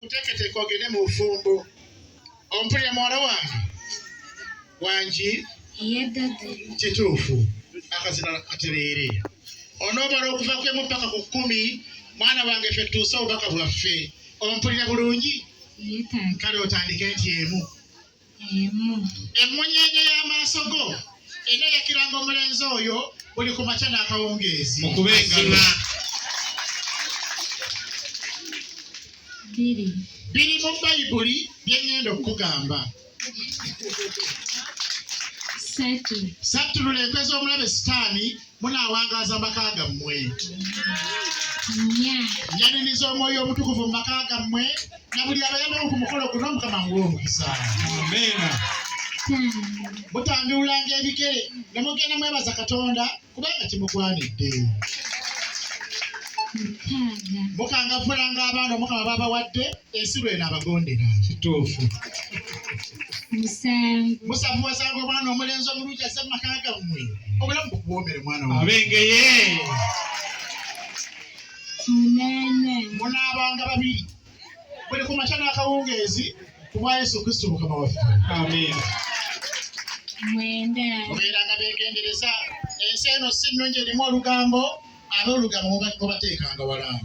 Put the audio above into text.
kuteeketeeka ogende mu bufumbo ompulira muwala wange wangi kituufu akazina katereere onoomala okuva kwemu ppaka ku kkumi mwana wange ffe tuuse obubaka bwaffe ompulira bulungi kale otandike nti emu emu. Emmunyeenye y'amaaso go eneeyakiranga omulenzi oyo buli ku makya n'akawungeezi. Mukube engalo. Biri. Biri mu Bayibuli bye ŋŋenda okukugamba. Satu. Sattulula enkwe z'omulabe Sitaani. munaawangaaza maka gammwe nyaniriza omwoyo omutukuvu mu maka gammwe na buli abayambamu ku mukolo guno mukama nguwa omukisa mutanduulanga ebigere ne mugenda mwebaza katonda kubanga kimugwanidde mukangavulanga abaana omukama babawadde ensi lweno abagondera kituufu musanvu wasanga omwana omulenzi omulungi aze mu maka gammwe obulamu bukuwoomere mwana abengeye munaabanga babiri buli ku makya n'akawungeezi ku bwa yesu kristo mukama waffe mubeeranga beegendereza ensi eno si nnungi erimu olugambo abe olugambo mubateekanga walamu